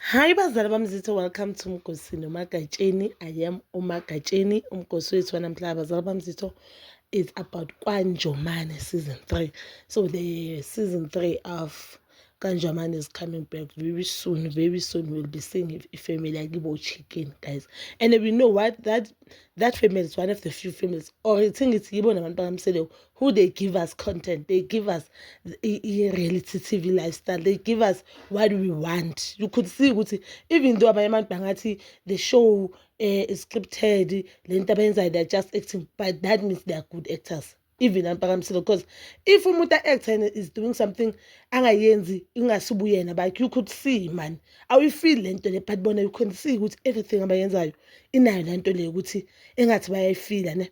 Hi bazali bamzitho welcome to Mgosi noMagatsheni I am uMagatsheni umgosi wethu wanamhlanje bazali bamzitho is about Kwanjomane season 3 so the season 3 of Kanjaman is coming back very soon. Very soon we'll be seeing a family like Ibo Chicken, guys. And we know what that that family is one of the few families. Or I think it's Ibo Naman Pagamsele who they give us content they give us i-reality tv lifestyle they give us what we want you could see ukuthi even though abanye abantu bangathi the show um eh, is scripted le nto abayenzayo they're just acting but that means they're good actors even ampakamisile because if umuntu a-actor and is doing something angayenzi ingasibuyena but you could see mani awuyifili le nto le but bona you can see ukuthi everything abayenzayo inayo le nto le ukuthi engathi bayayifila ne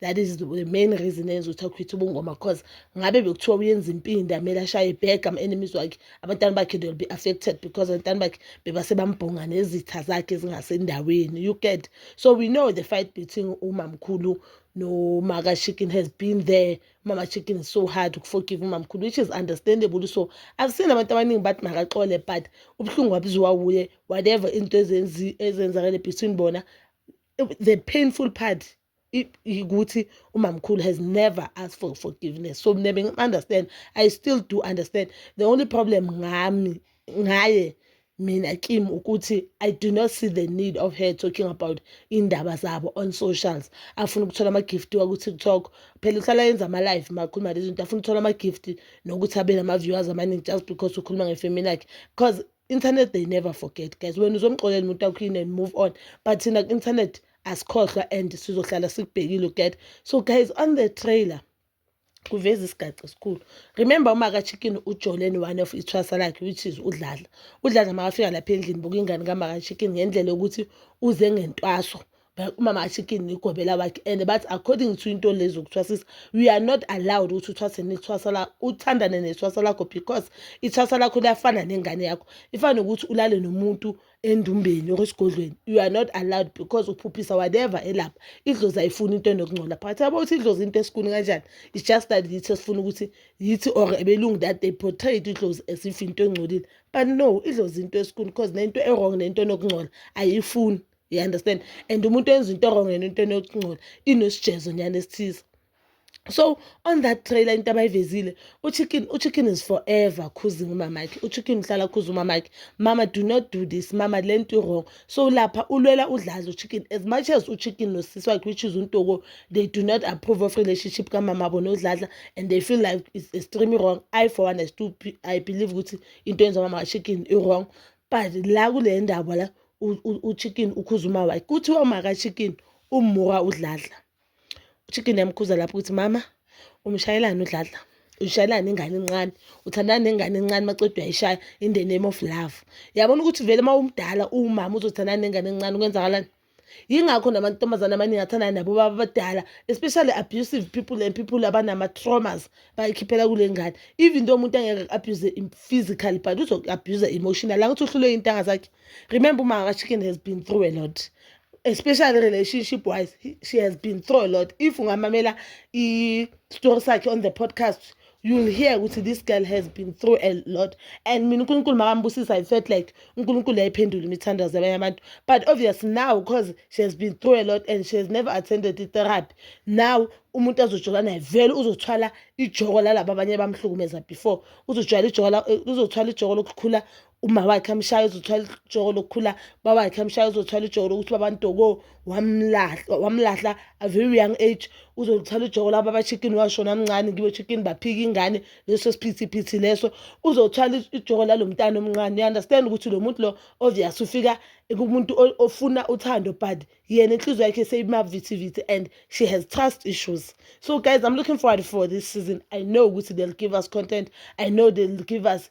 that is the main reason eyenza ukuthi akhwithe ubungoma cause ngabe bekuthiwa uyenza impindi amele ashaye ibhega ama-enemies wakhe abantwana bakhe they will be affected because abantwana bakhe bebasebambhonga nezitha zakhe ezingasendaweni you get so we know the fight between umamkhulu nomaka chicken has been there umama chicken is so hard ukuforgive umamkhulu which is understandable so i've seen abantu abaningi bathi makaxole but ubuhlungu wabuziwa wuye whatever into ezenzakele between bona the painful part ukuthi umamkhulu has never asked for forgiveness so mina bengi-understand i still do understand the only problem ngami ngaye mina kim ukuthi i do not see the need of her talking about iy'ndaba zabo on socials afuna ukuthola ama-gift waku-tiktok phela uhlala yenza ama-live makhuluma lezi zinto afuna ukuthola ama-gift nokuthi abe nama-viewers amaningi just because ukhuluma ngefemini yakhe because internet they never forget guys wena uzomxolela umuntu akhuyini and move on but thina ku-internet asikhohlwa and sizohlala sikubhekile uget so guys on the trailer kuveza isigaxa esikhulu remember uma kachicken ujolene one of ithwasa lakhe which is udlala udlala makafika lapha endlini buka ingane kamakachicken ngendlela yokuthi uze ngentwaso umama achicken nigobela wakhe and bathi according to into lezi zokuthwasisa we are not allowed ukuthi uthwase nithwasa la uthandane nethwasa lakho because ithwasa lakho liyafana nengane yakho ifana nokuthi ulale nomuntu endumbeni or esigodlweni you are not allowed because uphuphisa whatever elapha idlozi ayifuni into enokungcola phakathi yabo ukuthi idlozi into esikuni kanjani it's just that yithi esifuna ukuthi yithi or ebelungu that they portrayed idlozi as if into engcolile but no idlozi into esikuni because nento e-wrong nento enokungcola ayifuni you understand and umuntu enza into wrong yena into enokungcola inosijezo nyana esithize so on that trailer into abayivezile uchicken uchicken is forever khuzing umamakhe uchicken uhlala khuza umamakhe mama do not do this mama le nto wrong so lapha ulwela udlaza uchicken as much as uchicken nosisi wakhe which is untoko they do not approve of relationship kamama abo nodladla and they feel like it's extremely wrong i for one i still i believe ukuthi into yenza umama kachicken i-wrong but la kule ndaba la uchicken ukhuza umawakhe kuthiwa umakachicken ummuka udladla uchicken yamkhuza lapho ukuthi mama umshayelani udladla ushayelana ingane encane uthandana nengane encane macede uyayishaya in the name of love yabona ukuthi vele uma umdala uwumama uzothandana nengane encane kwenzakalani yingakho namantombazane amaningi athandana nabo baba abadala especially abusive people and people abanama-traumas bayikhiphela kule ngane even though umuntu angeke ku-abuse physically but uzoku-abuse emotional angithi uhlulwe iy'ntanga zakhe remember uma ka-chicken has been through a lot especially relationship wise she has been through a lot if ungamamela i-story sakhe on the podcast you'll hear ukuthi this girl has been through a lot and mina unkulunkulu makambusisa i felt like unkulunkulu yayiphendula imithandazo yabanye abantu but obvious now because she has been through a lot and she has never attended i-therapy now umuntu azojola naye vele uzothwala ijoko lalaba abanye bamhlukumeza before uzothwala ijoko uzothwala ijoko lokukhula uma wakhe amshaya uzothwala ijoko lokukhula bawakhe amshaya uzothwala ijoko lokuthi babantoko wamlahla wamlahla a very young age uzothwala ijoko laba abachicken washona amncane ngibo chicken baphika ingane leso siphithi phithi leso uzothwala ijoko lalo mntana omncane you understand ukuthi lo muntu lo obvious ufika kumuntu ofuna uthando but yena inhliziyo yakhe seyimavithi vithi and she has trust issues so guys i'm looking forward for this season i know ukuthi they'll give us content i know they'll give us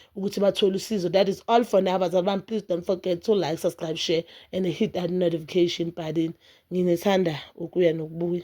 ukuthi bathole usizo that is all for now bazali bami please don't forget to like subscribe share and hit that notification button nginethanda ukuya nokubuya